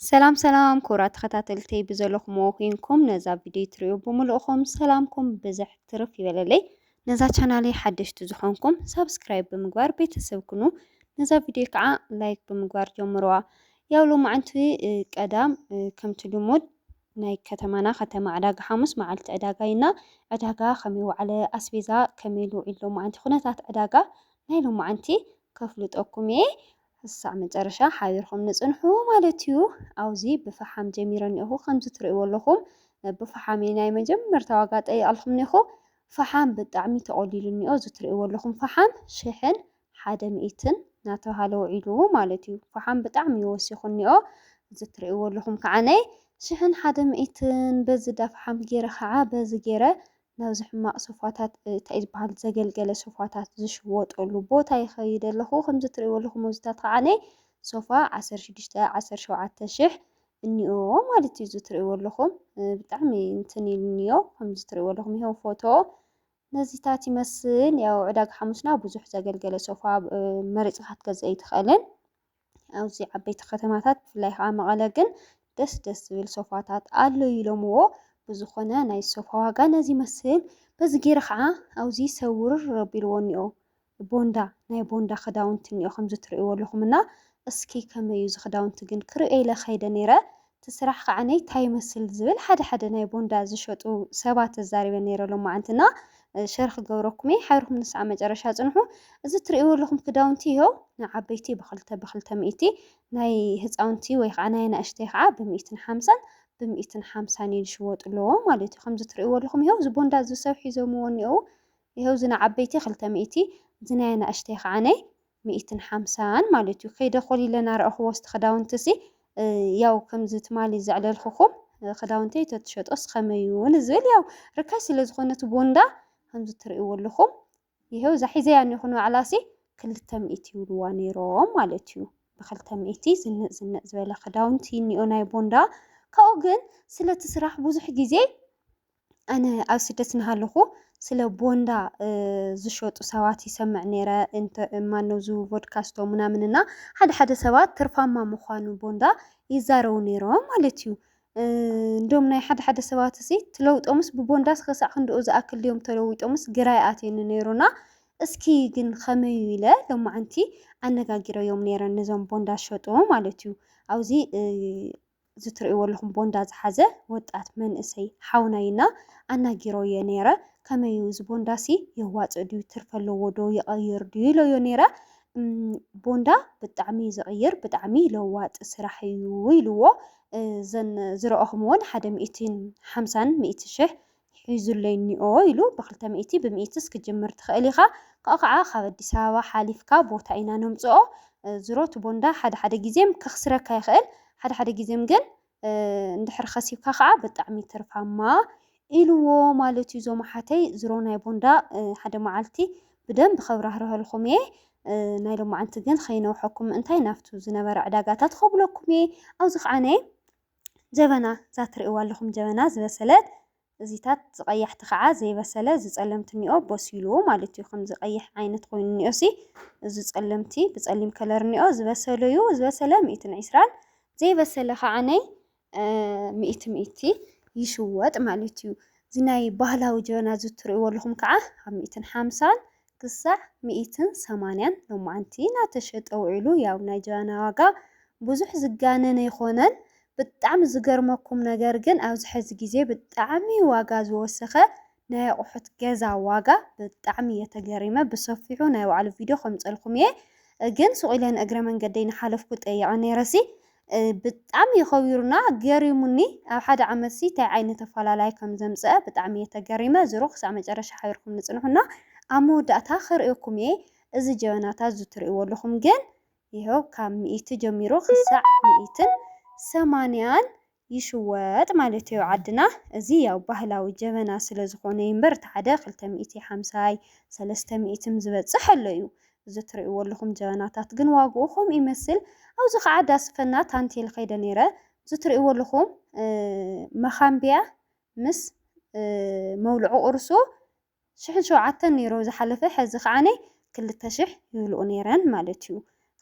ሰላም ሰላም ክቡራት ተኸታተልቲ ብዘለኹም ኮይንኩም ነዛ ቪድዮ ትሪኡ ብምልእኹም ሰላምኩም ብዝሕ ትርፍ ይበለለይ። ነዛ ቻናለይ ሓደሽቲ ዝኾንኩም ሳብስክራይብ ብምግባር ቤተሰብ ኩኑ። ነዛ ቪድዮ ከዓ ላይክ ብምግባር ጀምሩዋ። ያው ሎማዕንቲ ቀዳም ከምቲ ልሙድ ናይ ከተማና ከተማ ዕዳጋ ሓሙስ መዓልቲ ዕዳጋ ኢና ዕዳጋ ከመይ ዋዕለ ኣስቤዛ ከመይ ልውዒል ሎማዓንቲ ኩነታት ዕዳጋ ናይ ሎማዓንቲ ከፍልጠኩም እየ ክሳዕ መጨረሻ ሓቢርኩም ንጽንሑ ማለት እዩ። ኣውዚ ብፋሓም ጀሚረ እኒኦኹ ከምዚ ትርእይዎ ኣለኹም ብፋሓም እየ ናይ መጀመርታ ዋጋ ጠይቐልኩም እኒኦኹ ፋሓም ብጣዕሚ ተቖሊሉ እኒኦ እዚ ትርእይዎ ኣለኹም ፋሓም ሽሕን ሓደ ሚእትን ናተብሃለ ውዒሉ ማለት እዩ ፋሓም ብጣዕሚ እዩ ወሲኹ እኒኦ እዚ ትርእይዎ ኣለኹም ከዓነይ ሽሕን ሓደ ሚእትን በዚ ዳፋሓም ገይረ ከዓ በዚ ገይረ ናብዚ ሕማቅ ሶፋታት ታይ ዝባሃል ዘገልገለ ሶፋታት ዝሽወጠሉ ቦታ ይከይድ ኣለኩ ከምዚ ትሪእዎ ኣለኩም ኣብዚታት ከዓኒ ሶፋ ዓሰርተ ሽዱሽተ ዓሰርተ ሸውዓተ ሽሕ እንኦ ማለት እዩ እዚ ትሪእዎ ኣለኩም ብጣዕሚ እንትን ኢሉ እንኦ ከምዚ ትሪእዎ ኣለኩም ይሄው ፎቶ ነዚታት ይመስል ያው ዕዳጋ ሓሙስና ብዙሕ ዘገልገለ ሶፋ መሪፅካ ክትገዝእ ኣይትክእልን ኣብዚ ዓበይቲ ከተማታት ብፍላይ ከዓ መቐለ ግን ደስ ደስ ዝብል ሶፋታት ኣሎ ኢሎምዎ። ብዝኾነ ናይ ሶፋ ዋጋ ነዚ ይመስል። በዚ ገይረ ከዓ ኣብዚ ሰብ ውርር ኣቢልዎ እኒኦ። ቦንዳ ናይ ቦንዳ ክዳውንቲ እኒኦ ከምዚ ትርእይዎ ኣለኹም እና እስኪ ከመይ እዩ እዚ ክዳውንቲ ግን ክርእዮ ኢለ ከይደ ነይረ እቲ ስራሕ ከኣ ታይ ይመስል ዝብል ሓደ ሓደ ናይ ቦንዳ ዝሸጡ ሰባት ተዛሪበ ነይረ ሎማዓንቲ እና ሸር ክገብረኩም እየ ሓቢርኩም ንስዓ መጨረሻ ፅንሑ እዚ እትሪእዎ ኣለኹም ክዳውንቲ ይሀው ንዓበይቲ ብክልተ ብክልተ ሚእቲ ናይ ህፃውንቲ ወይ ከዓ ናይ ኣናእሽተይ ከዓ ብሚእትን ሓምሳን ብሚእትን ሓምሳን እየን ዝሽወጥለዎ ማለት እዩ ከምዚ እትሪእዎ ኣለኹም ይሀው እዚ ቦንዳ እዚ ሰብ ሒዞምዎ እኒኦው ይሀው እዚ ንዓበይቲ ክልተ ሚእቲ እዚ ናይ ኣናእሽተይ ከዓነይ ሚእትን ሓምሳን ማለት እዩ ከይደ ኮሊለ ናረኣኹዎ እስቲ ክዳውንቲሲ ያው ከምዚ ትማሊ ዘዕለልኹኹም ክዳውንተይ ተትሸጦስ ከመይ እዩ ንዝብል ያው ርካሽ ስለ ዝኾነ እቲ ቦንዳ ከምዚ ትርእይዎ ኣለኹም ይሄው እዛ ሒዘያ እኒኹ ንባዕላሲ ክልተ ሚእቲ ይብልዋ ነይሮም ማለት እዩ ብክልተ ሚእቲ ዝንእ ዝንእ ዝበለ ክዳውንቲ እኒኦ ናይ ቦንዳ ካብኡ ግን ስለቲ ስራሕ ብዙሕ ግዜ ኣነ ኣብ ስደት እናሃለኹ ስለ ቦንዳ ዝሸጡ ሰባት ይሰምዕ ነይረ። እንተ ማነው ዙ ቮድካስቶ ምናምን እና ሓደ ሓደ ሰባት ትርፋማ ምዃኑ ቦንዳ ይዛረቡ ነይሮም ማለት እዩ። እንዶም ናይ ሓደ ሓደ ሰባት እዚ ትለውጦምስ ብቦንዳስ ክሳዕ ክንድኡ ዝኣክል ድዮም ተለዊጦምስ ግራ ይኣትየኒ ነይሩና። እስኪ ግን ከመይ ኢለ ሎማዓንቲ ኣነጋጊረዮም ነይረ ነዞም ቦንዳ ዝሸጡ ማለት እዩ። ኣብዚ እዚ ትርእይዎ ኣለኹም ቦንዳ ዝሓዘ ወጣት መንእሰይ ሓውና እዩ እና ኣናጊሮ እየ ነይረ ከመይ እዩ እዚ ቦንዳ ሲ የዋፅእ ድዩ ትርፊ ኣለዎ ዶ ይቐይር ድዩ ኢሎዮ ነይረ ቦንዳ ብጣዕሚ እዩ ዝቕይር ብጣዕሚ ለዋጢ ስራሕ እዩ ኢልዎ እዘን ዝረኦኹምዎን ሓደ ሚእቲን ሓምሳን ሚእቲ ሽሕ ሒዙለይ እኒኦ ኢሉ ብክልተ ሚእቲ ብሚኢትስ ክትጅምር ትክእል ኢካ ካኡ ካዓ ካብ ኣዲስ ኣበባ ሓሊፍካ ቦታ ኢና ነምፅኦ ዝሮ እቲ ቦንዳ ሓደ ሓደ ግዜም ከክስረካ ይክእል ሓደ ሓደ ግዜም ግን እንድሕር ከሲብካ ካዓ ብጣዕሚ ትርፋማ ኢልዎ ማለት እዩ እዞም ኣሓተይ ዝሮ ናይ ቦንዳ ሓደ ማዓልቲ ብደንብ ከብራህርሀልኩም እየ ናይ ሎማዓንቲ ግን ከይነውሐኩም ምእንታይ ናብቱ ዝነበረ ዕዳጋታት ከብለኩም እየ ኣብዚ ካዓ ናይ ጀበና እዛ ትርእይዋ ኣለኹም ጀበና ዝበሰለት እዚታት ዝቀያሕቲ ከዓ ዘይበሰለ እዚ ጸለምቲ እኒኦ በሲሉ ማለት እዩ ከምዚ ቀይሕ ዓይነት ኮይኑ እኒኦ ሲ እዚ ጸለምቲ ብጸሊም ከለር እኒኦ ዝበሰለ እዩ ዝበሰለ ሚእትን ዒስራን ዘይበሰለ ከዓ ነይ ሚእቲ ሚእቲ ይሽወጥ ማለት እዩ እዚ ናይ ባህላዊ ጀበና እዚ እትርእይዎ ኣለኹም ከዓ ኣብ ሚእትን ሓምሳን ክሳዕ ሚኢትን ሰማንያን ሎማዓንቲ ናተሸጠ ውዒሉ ያው ናይ ጃና ዋጋ ብዙሕ ዝጋነን ኣይኮነን ብጣዕሚ ዝገርመኩም ነገር ግን ኣብዚ ሐዚ ግዜ ብጣዕሚ ዋጋ ዝወሰኸ ናይ ኣቁሑት ገዛ ዋጋ ብጣዕሚ እየ ተገሪመ ብሰፊሑ ናይ ባዕሉ ቪድዮ ከምፀልኩም እየ ግን ሱቅ ኢለ ንእግረ መንገደይ ናሓለፍኩ ጠይቀ ነይረሲ ብጣዕሚ ከቢሩና ገሪሙኒ ኣብ ሓደ ዓመት ሲ ታይ ዓይነት ኣፋላላይ ከም ዘምጸኣ ብጣዕሚ እየ ተገሪመ ዝሮ ክሳዕ መጨረሻ ሓቢርኩም ንጽንሑና ኣብ መወዳእታ ክርእየኩም እየ እዚ ጀበናታት እዚ ትርእይዎ ኣለኹም ግን ይሀው ካብ ሚኢቲ ጀሚሩ ክሳዕ ሚኢትን ሰማንያን ይሽወጥ ማለት እዮ ዓድና እዚ ያው ባህላዊ ጀበና ስለ ዝኾነ እዩምበር እቲ ሓደ ክልተ ሚኢቲ ሓምሳይ ሰለስተ ሚኢትም ዝበጽሕ ኣሎ እዩ እዚ ትርእይዎ ኣለኹም ጀበናታት ግን ዋግኡ ከምኡ ይመስል። ኣብዚ ከዓ ዳስፈና ታንቴል ከይደ ነይረ። እዚ ትርእይዎ ኣለኹም መኻምቢያ ምስ መውልዑ ቁርሱ ሽሕን ሸውዓተን ነይሩ ዝሓለፈ ሕዚ ከዓኒ ክልተ ሽሕ ይብልኡ ነይረን ማለት እዩ።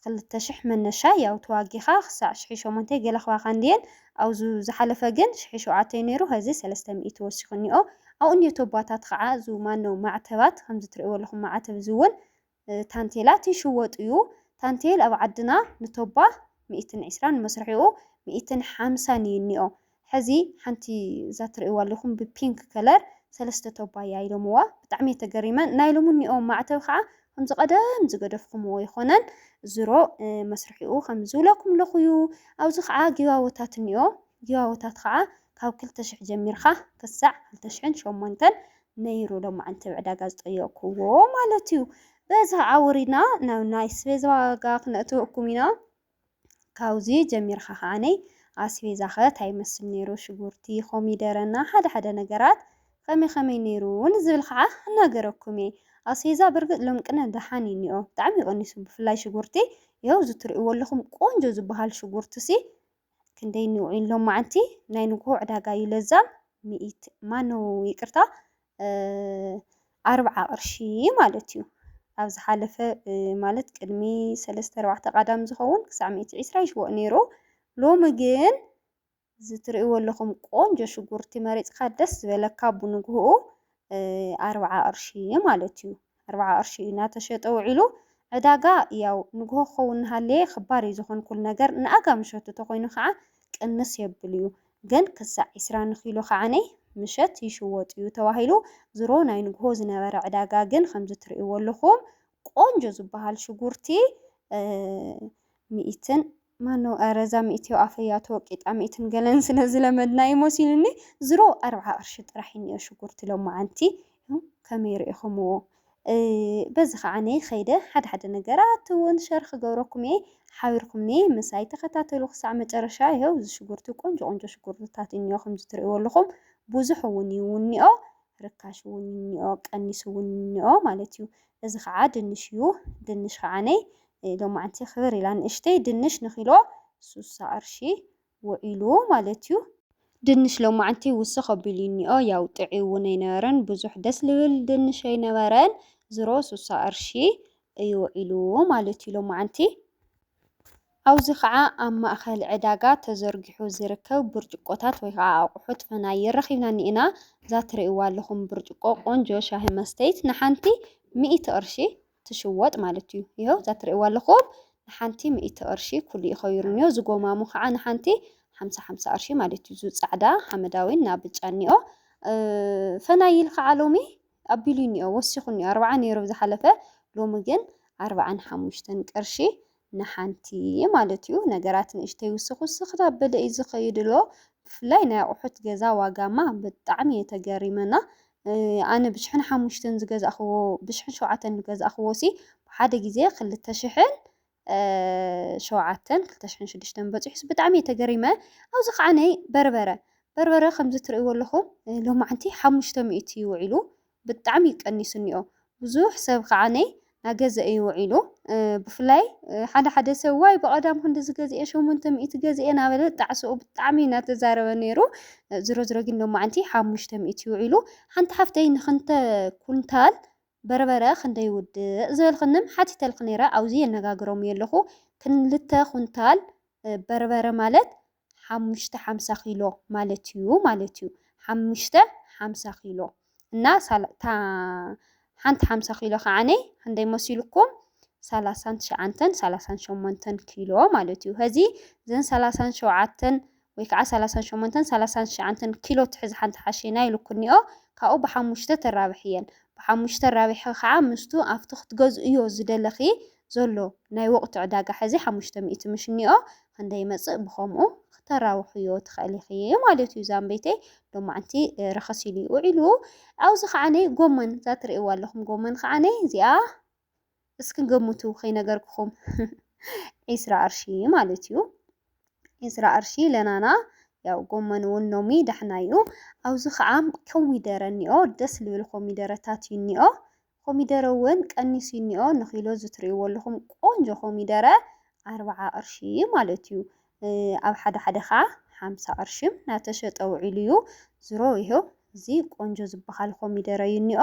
ክልተ ሽሕ መነሻ ያው ተዋጊኻ ክሳዕ ሽሕ ሸሞንተ ገለ ክባካ እንድየን ኣብዙ ዝሓለፈ ግን ሽሒ ሸውዓተ ዩ ነይሩ ሀዚ ሰለስተ ሚእቲ ወሲኹ እኒኦ ኣብኡ ኒዮቶባታት ኸዓ እዙ ማኖ ማዕተባት ኸምዚ ትርእይዎ ኣለኹም ማዓተብ እዙ ውን ታንቴላት ይሽወጡ ዩ ታንቴል ኣብ ዓድና ንቶባ ሚእትን ዒስራን መስርሒኡ ሚእትን ሓምሳን ዩ እኒኦ ሐዚ ሓንቲ እዛ ትርእይዋ ኣለኹም ብፒንክ ከለር ሰለስተ ቶባ እያ ኢሎምዋ ብጣዕሚ እየ ተገሪመ ናይ ሎሚ እኒኦ ማዕተብ ኸዓ ከምዚ ቀደም ዝገደፍኩምዎ ኣይኮነን ዝሮ መስርሒኡ ከምዚ ዝብለኩም ኣለኩ እዩ ኣብዚ ከዓ ጊቫወታት እኒኦ ጊቫወታት ከዓ ካብ ክልተ ሽሕ ጀሚርካ ክሳዕ ክልተ ሽሕን ሸሞንተን ነይሩ ሎማዓንቲ ኣብ ዕዳጋ ዝጠየቅኩዎ ማለት እዩ በዚ ከዓ ወሪድና ናብ ናይ ስቤዝ ዋጋ ክነእትወኩም ኢና ካውዚ ጀሚርካ ከኣ ኣስቤዛኸ ታይ ይመስል ነይሩ ሽጉርቲ ኮሚደረ እና ሓደ ሓደ ነገራት ከመይ ከመይ ነይሩ ንዝብል ከኣ ክናገረኩም እየ ኣስቤዛ ብርግፅ ሎም ቅነ ደሓን እዩ እኒኦ ብጣዕሚ እዩ ቀኒሱ ብፍላይ ሽጉርቲ ይሀው እዚ ትሪእዎ ኣለኹም ቆንጆ ዝብሃል ሽጉርቲ ሲ ክንደይ እኒኦ ሎማዓንቲ ናይ ንጉሆ ዕዳጋ እዩ ለዛም ሚኢቲ ማነው ይቅርታ ኣርብዓ ቅርሺ ማለት እዩ። ኣብ ዝሓለፈ ማለት ቅድሚ ሰለስተ ኣርባዕተ ቃዳም ዝኸውን ክሳዕ ሚእቲ ዒስራ ይሽወእ ነይሩ። ሎሚ ግን እዚ ትርእይዎ ኣለኹም ቆንጆ ሽጉርቲ መሪፅካ ደስ ዝበለካ ብንግህኡ ኣርብዓ ቅርሺ ማለት እዩ። ኣርብዓ ቅርሺ እዩ ናተሸጠ ውዒሉ ዕዳጋ ያው ንግሆ ክኸውን ናሃለየ ክባር እዩ ዝኮን ኩሉ ነገር ንኣጋ ምሸቱ ተኮይኑ ካዓ ቅንስ የብል እዩ ግን ክሳዕ ዒስራ ንኪሎ ካዓነ ምሸት ይሽወጥ እዩ ተባሂሉ ዝሮ ናይ ንግሆ ዝነበረ ዕዳጋ ግን ከምዚ ትርእይዎ ኣለኩም ቆንጆ ዝባሃል ሽጉርቲ ሚኢትን ማኖ ኣረ እዛ ሚእትዮ ኣፈያ ተወቂጣ ሚእትን ገለን ስለ ዝለመድናዮ መሲሉኒ ዝሮ ኣርብዓ ቅርሺ ጥራሕ እዩ እኒኦ ሽጉርቲ ሎማዓንቲ ከመይ ሪኢኹምዎ በዚ ከዓ ነይ ኸይደ ሓደ ሓደ ነገራት እውን ሸር ክገብረኩም እየ ሓቢርኩምኒ ምሳይ ተኸታተሉ ክሳዕ መጨረሻ ይኸው እዚ ሽጉርቲ ቆንጆ ቆንጆ ሽጉርትታት እኒኦ ከምዚ ትሪእዎ ኣለኹም ብዙሕ እውን እዩ እኒኦ ርካሽ እውን እኒኦ ቀኒሱ እውን እኒኦ ማለት እዩ እዚ ከዓ ድንሽ እዩ ድንሽ ከዓ ነይ ሎማዕንቲ ክብር ኢላ ንእሽተይ ድንሽ ንኪሎ ሱሳ ቅርሺ ውዒሉ ማለት እዩ። ድንሽ ሎማዕንቲ ውስኽ ኣቢሉ እኒኦ ያው ጥዕይ እውን ኣይነበረን ብዙሕ ደስ ልብል ድንሽ ኣይነበረን ዝሮ ሱሳ ቅርሺ እዩ ውዒሉ ማለት እዩ ሎማዕንቲ። ኣብዚ ከዓ ኣብ ማእኸል ዕዳጋ ተዘርጊሑ ዝርከብ ብርጭቆታት ወይ ከዓ ኣቑሑት ፈናይር ረኺብና እኒኤና። እዛ ትሪእዋ ኣለኹም ብርጭቆ ቆንጆ ሻሂ መስተይት ንሓንቲ ሚእቲ ቅርሺ። ትሽወጥ ማለት እዩ ይኸው እዛ ትርእይዋ ኣለኹም ንሓንቲ ሚእቲ ቅርሺ ኩሉ እዩ ከይሩኒዮ ዝጎማሙ ከዓ ንሓንቲ ሓምሳ ሓምሳ ቅርሺ ማለት እዩ ዙፃዕዳ ሓመዳዊን ናብ ብጫ እኒኦ ፈናይል ከዓ ሎሚ ኣቢሉ እኒኦ ወሲኹ እኒኦ ኣርባዓ ነይሩ ዝሓለፈ ሎሚ ግን ኣርባዓን ሓሙሽተን ቅርሺ ንሓንቲ ማለት እዩ ነገራት ንእሽተይ ውስኽ ውስኽ እናበለ እዩ ዝኸይድ እሎ ብፍላይ ናይ ኣቑሑት ገዛ ዋጋማ ብጣዕሚ እየ ተገሪመ እና ኣነ ብሽሕን ሓሙሽተን ዝገዛእኽዎ ብሽሕን ሸውዓተን ዝገዛእኽዎ ሲ ብሓደ ግዜ ክልተ ሽሕን ሸውዓተን ክልተ ሽሕን ሽዱሽተን በፂሑስ ብጣዕሚ እየ ተገሪመ ኣብዚ ከዓነይ በርበረ በርበረ ከምዚ ትርእይዎ ኣለኹም ሎማዓንቲ ሓሙሽተ ሚእቲ እዩ ውዒሉ ብጣዕሚ ቀኒሱ እኒኦ ብዙሕ ሰብ ካዓ ነይ ናገዘ እዩ ውዒሉ ብፍላይ ሓደ ሓደ ሰብ ዋይ ብቀዳም ክንድዚ ገዚኤ ሸሞንተ ሚእቲ ገዚኤ ናበለ ጣዕስኡ ብጣዕሚ እዩ ናተዛረበ ነይሩ ዝሮ ዝሮ ግን ሎማዓንቲ ሓሙሽተ ሚእቲ እዩ ውዒሉ ሓንቲ ሓፍተይ ንክንተ ኩንታል በርበረ ክንደይ ውድእ ዝበልክንም ሓቲተልክ ነይረ ኣውዚ የነጋግሮም እየ ኣለኩ ክልተ ኩንታል በርበረ ማለት ሓሙሽተ ሓምሳ ኪሎ ማለት እዩ ማለት እዩ። ሓሙሽተ ሓምሳ ኪሎ እና ሳላታ ሓንቲ ሓምሳ ኪሎ ከዓነይ ክንደይ መሲልኩም ሰላሳን ትሽዓንተን ሰላሳን ሸሞንተን ኪሎ ማለት እዩ ሀዚ ዘን ሰላሳን ሸውዓተን ወይ ከዓ ሰላሳን ሸሞንተን ሰላሳን ትሽዓንተን ኪሎ ትሕዝ ሓንቲ ሓሸና ኢልኩኒኦ ካብኡ ብሓሙሽተ ተራብሕ እየን ብሓሙሽተ ራብሒ ከዓ ምስቱ ኣብቲ ክትገዝእዮ ዝደለኺ ዘሎ ናይ ወቕቲ ዕዳጋ ሕዚ ሓሙሽተ ሚእቲ ምሽኒኦ ከንደይመጽእ ብኸምኡ ክተራውሕዮ ትኸእሊ ኢኺ ማለትዩ ዛምበይተይ ሎማዕንቲ ረኸስ ኢሉዩ ውዒሉ ኣውዚ ከዓኒ ጎመን ዛትርእይዋ ኣለኹም ጎመን ከዓኒ እዚኣ እስኪ ገምቱ ከይነገርክኹም ዒስራ ቅርሺ ማለትዩ ዒስራ ቅርሺ ለናና ያው ጎመን እውን ሎሚ ዳሕና እዩ። ኣብዚ ከዓ ኮሚደረ እኒኦ ደስ ልብል ኮሚደረታት እዩ እኒኦ። ኮሚደረ ውን ቀኒሱ እኒኦ ንኪሎ እዚ ትሪእዎ ኣለኹም ቆንጆ ኮሚደረ ኣርብዓ ቅርሺ ማለት እዩ ኣብ ሓደ ሓደ ከዓ ሓምሳ ቅርሺ ናተሸጠ ውዒሉ እዩ ዝሮ ይሀው እዚ ቆንጆ ዝበሃል ኮሚደረ እዩ እኒኦ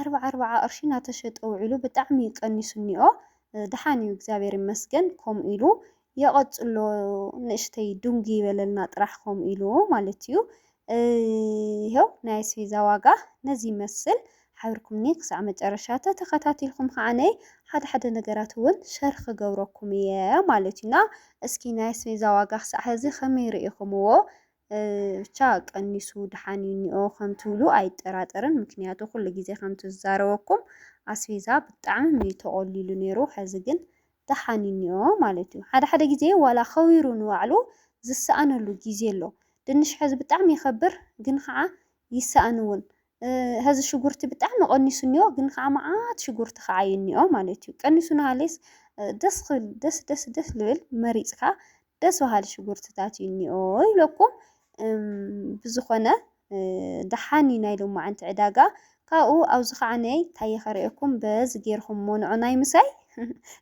ኣርብዓ ኣርብዓ ቅርሺ ናተሸጠ ውዒሉ ብጣዕሚ እዩ ቀኒሱ እኒኦ ደሓን እዩ እግዚኣብሔር ይመስገን ከምኡ ኢሉ የቀጽሎ ንእሽተይ ዱንግ ይበለልና ጥራሕ ከምኡ ኢሉ ማለት እዩ ይሄው ናይ ኣስቤዛ ዋጋ ነዚ ይመስል ሓብርኩምኒ ክሳዕ መጨረሻ ተተኸታቲልኩም ከዓነ ሓደ ሓደ ነገራት እውን ሸር ክገብረኩም እየ ማለት እዩ እና እስኪ ናይ ኣስቤዛ ዋጋ ክሳዕ ሕዚ ከመይ ርኢኹምዎ ብቻ ቀኒሱ ድሓን እዩ እኒኦ ከም ትብሉ ኣይጠራጠርን ምክንያቱ ኩሉ ግዜ ከም ትዛረበኩም ኣስቤዛ ብጣዕሚ እዩ ተቖሊሉ ነይሩ ሕዚ ግን ተሓኒንዮ ማለት እዩ። ሓደ ሓደ ግዜ ዋላ ከዊሩ ንባዕሉ ዝሰኣነሉ ግዜ ኣሎ። ድንሽ ሐዚ ብጣዕሚ ይኸብር ግን ኸዓ ይሰኣን እውን። ሐዚ ሽጉርቲ ብጣዕሚ ቀኒሱ እኒኦ ግን ኸዓ መዓት ሽጉርቲ ኸዓ እዩ እኒኦ ማለት እዩ። ቀኒሱ ናሃለየስ ደስ ክብል ደስ ደስ ደስ ልብል መሪፅካ ደስ በሃሊ ሽጉርትታት እዩ እኒኦ ኢለኩም ብዝኾነ ደሓን እዩ ናይ ሎማዓንቲ ዕዳጋ ካብኡ ኣብዚ ከዓ ነይ ታየ ከርእየኩም በዚ ጌርኹም ሞንዖ ናይ ምሳይ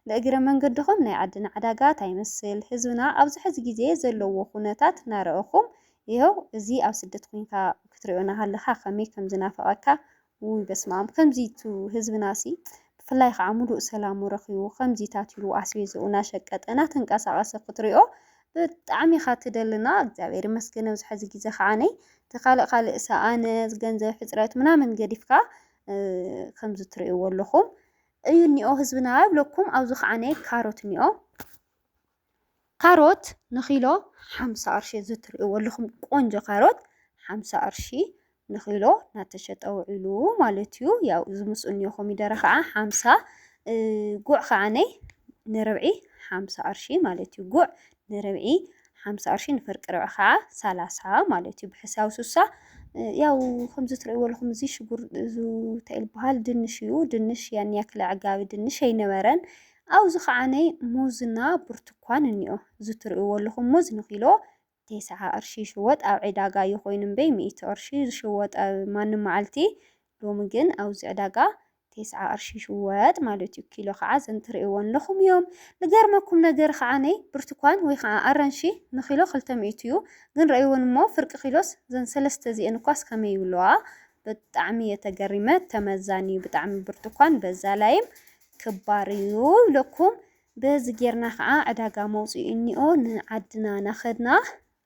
ንእግረ መንገድኹም ናይ ዓድና ዕዳጋ ታይ ይመስል ህዝብና ኣብዚ ሕዚ ግዜ ዘለዎ ኩነታት ናረእኹም ይሀው እዚ ኣብ ስደት ኮይንካ ክትሪኦ ናሃለኻ ከመይ ከምዝናፍቐካ ውይ በስመኣም ከምዚ ቱ ህዝብና ሲ ብፍላይ ኻዓ ሙሉእ ሰላሙ ረኺቡ ከምዚ ታቲሉ ኣስቤዝኡ ናሸቀጠ ናተንቀሳቀሰ ክትሪኦ ብጣዕሚ ኢኻ ትደሊ እና እግዚኣብሔር ይመስገን ኣብዚ ሐዚ ግዜ ኻዓነይ እቲ ካልእ ካልእ ሰኣነ ገንዘብ ሕፅረት ምናምን ገዲፍካ ከምዚ ትሪእዎ ኣለኹም እዩ እኒኦ ህዝብና ይብለኩም ኣብዚ ኻዓነይ ካሮት እኒኦ። ካሮት ንኪሎ ሓምሳ ቅርሺ እዚ እትሪእዎ ኣለኹም ቆንጆ ካሮት ሓምሳ ቅርሺ ንኪሎ እናተሸጠ ውዒሉ ማለት እዩ። ያው እዚ ምስኡ እኒኦ ኮሚደረ ከዓ ሓምሳ ጉዕ ከዓ ንርብዒ ሓምሳ ቅርሺ ማለት እዩ። ጉዕ ንርብዒ ሓምሳ ቅርሺ ንፍርቂ ርብዒ ከዓ ሰላሳ ማለት እዩ። ብሕሳብ ሱሳ ያው ከምዚ እትሪእዎ ኣለኹም እዚ ሽጉር እዚ እንታይ ይበሃል ድንሽ እዩ። ድንሽ ያን ያክል ኣዕጋቢ ድንሽ ኣይነበረን። ኣብዚ ኸኣ ናይ ሙዝና ብርቱኳን እኒኦ። እዚ ትርእይዎ ኣለኹም ሙዝ ንኪሎ ቴስዓ ቅርሺ ይሽወጥ ኣብ ዕዳጋ እዩ ኮይኑ እምበይ ሚእቲ ቅርሺ እዩ ዝሽወጥ ኣብ ማንም መዓልቲ ሎሚ ግን ኣብዚ ዕዳጋ ቴስዓ ቅርሺ ይሽወጥ ማለት እዩ ኪሎ ኸዓ እዘን ትርእይወን ኣለኹም እዮም። ልገርመኩም ነገር ኸዓ ናይ ብርቱኳን ወይ ኸዓ ኣራንሺ ንኪሎ ክልተ ሚእቲ እዩ ግን ረእይወን እሞ ፍርቂ ኪሎስ እዘን ሰለስተ እዚኤን እኳስ ከመይ ይብልዋ ብጣዕሚ እየ ተገሪመ ተመዛኒ እዩ ብጣዕሚ ብርቱኳን በዛ ላይም ክባር እዩ ይብለኩም በዚ ጌርና ከኣ ዕዳጋ መውጽኢ እንኦ ንዓድና ናኸድና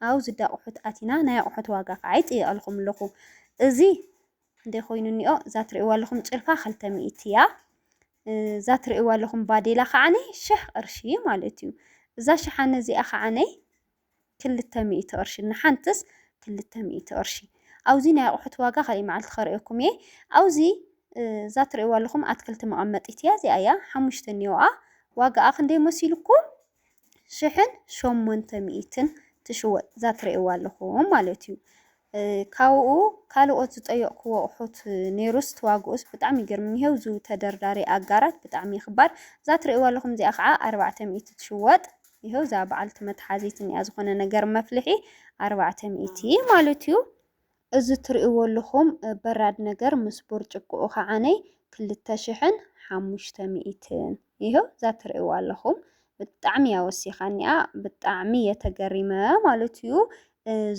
ኣብ ዝዳቁሑት ኣቲና ናይ ኣቁሑት ዋጋ ከኣ ይጥይቀልኩም ኣለኩ እዚ ክንደይ ኮይኑ እንኦ እዛ ትርእዋ ኣለኩም ጭልፋ ክልተ ሚእቲ እያ እዛ ትርእዋ ኣለኩም ባዴላ ከዓነይ ሽሕ ቅርሺ ማለት እዩ እዛ ሸሓነ እዚኣ ከዓነይ ክልተ ሚእቲ ቅርሺ ንሓንትስ ክልተ ሚእቲ ቅርሺ ኣውዚ ናይ ኣቁሑት ዋጋ ካሊእ መዓልቲ ከርእየኩም እየ ኣውዚ እዛ ትርእይዋ ኣለኹም ኣትክልቲ መቐመጢት እያ እዚኣ እያ ሓሙሽተ እኒኦኣ ዋጋኣ ክንደይ መሲልኩም ሽሕን ሸሞንተ ሚእትን ትሽወጥ እዛ ትርእይዋ ኣለኹም ማለት እዩ ካብኡ ካልኦት ዝጠየቕኩዎ ኣቑሑት ኔሩስ ትዋግኡስ ብጣዕሚ ይገርምኒ ሄው ዝው ተደርዳሪ ኣጋራት ብጣዕሚ ኽባር እዛ ትርእይዋ ኣለኹም እዚኣ ኽዓ ኣርባዕተ ሚእቲ ትሽወጥ ይሄው እዛ በዓልቲ መትሓዚት እኒኣ ዝኾነ ነገር መፍልሒ ኣርባዕተ ሚእቲ ማለት እዩ እዚ ትርእይዎ ኣለኹም በራድ ነገር ምስ ቡርጭቆኡ ኽዓነይ ክልተ ሽሕን ሓሙሽተ ሚእትን ይሄው እዛ ትርእይዋ ኣለኹም ብጣዕሚ እያ ወሲኻኒኣ ብጣዕሚ እየ ተገሪመ ማለት እዩ።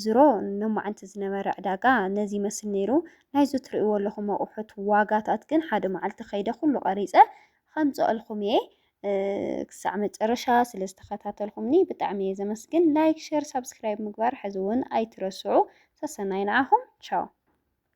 ዝሮ ሎማዓንቲ ዝነበረ ዕዳጋ ነዚ ይመስል ነይሩ። ናይዚ ትርእይዎ ኣለኹም ኣቑሑት ዋጋታት ግን ሓደ መዓልቲ ከይደ ኩሉ ቀሪፀ ከምፅኣልኩም እየ። ክሳዕ መጨረሻ ስለ ዝተኸታተልኩምኒ ብጣዕሚ እየ ዘመስግን። ላይክ፣ ሸር፣ ሳብስክራይብ ምግባር ሕዚ እውን ኣይትረስዑ። ሰሰናዩ ንዓኹም ቻው።